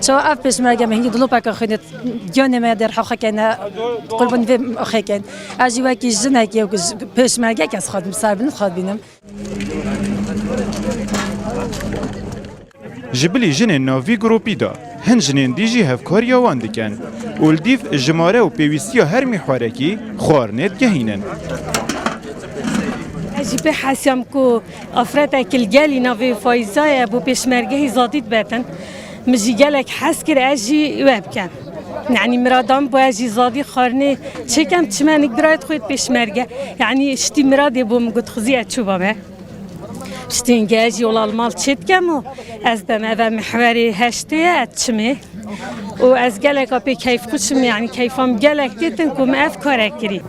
Çawa ev pêşmerge me hînî dilopeke xwînê giyanê me der heqê kene qurbanî vê oxê ken. Ez jî wekî jinekê û pêşmergek ez xwe ser bi nû xwe bînim. Ji bilî jinên nav vî gropî de hin jinên dî jî hevkariya wan dikin û li dîv jimare û pêwîstiya her mîhwarekî xwarinê digehînin. Ez jî pê hesiyam ku Afrete Kilgelî navê Fayîza ye bo pêşmergehî zadî dibetin. Min jî gelek hez kir ez jî wê bikim. Yanî mirada min bû ez jî zadî xwarinê çêkem çimenik birayê xwe yê pêşmerge. Yanî şitî miradê bo min got xizî ez çûba me. Şitî hingê ez jî olal mal çê dikem û ez bim eve mihwerê heştê ye ez çimê. û ez geleka pê keyfxweş im yanî keyfa min gelek tê tin ku min ev kare kirî.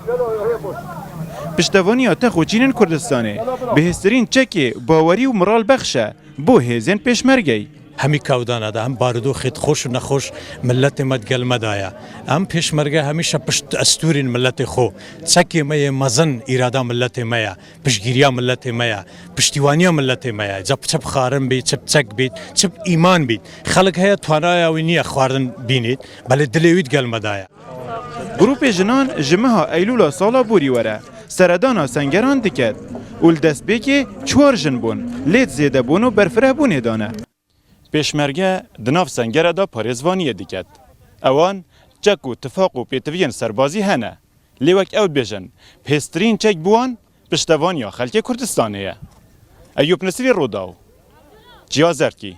Piştevaniya te xwe çînin Kurdistanê bihêztirîn çekê bawerî û miralbexş e bo hêzên pêşmergeyî. Hemî kewdana de, hem barodoxê di xweş û nexweş miletê me di gel me de ye. Em pêşmerge hemîşe pişt destûrên miletê xwe, çekê me yê mezin îrada miletê me ye, piştgîriya miletê me ye, piştîwaniya miletê me ye. Ca çi bi xwarin bît, çi bi çek bît, çi bi îman bît. Xelk heye twanaya wî niye xwarin bînît, belê dilê wî di gel me de ye. Grûpê jinan ji meha Eylûla sala borî were seredana sengeran diket û li destpêkê çwar jin bûn lê di zêdebûn û berfirehbûnê de ne. Pêşmerge di nav sengere de parêzvaniyê diket. Ewan çek û tifaq û pêtiviyên serbazî hene lê wek ew dibêjin pêstirîn çek bi wan piştevaniya xelkê Kurdistanê ye. Eyûp Nisrî Rûdaw, Çiya Zerdkî.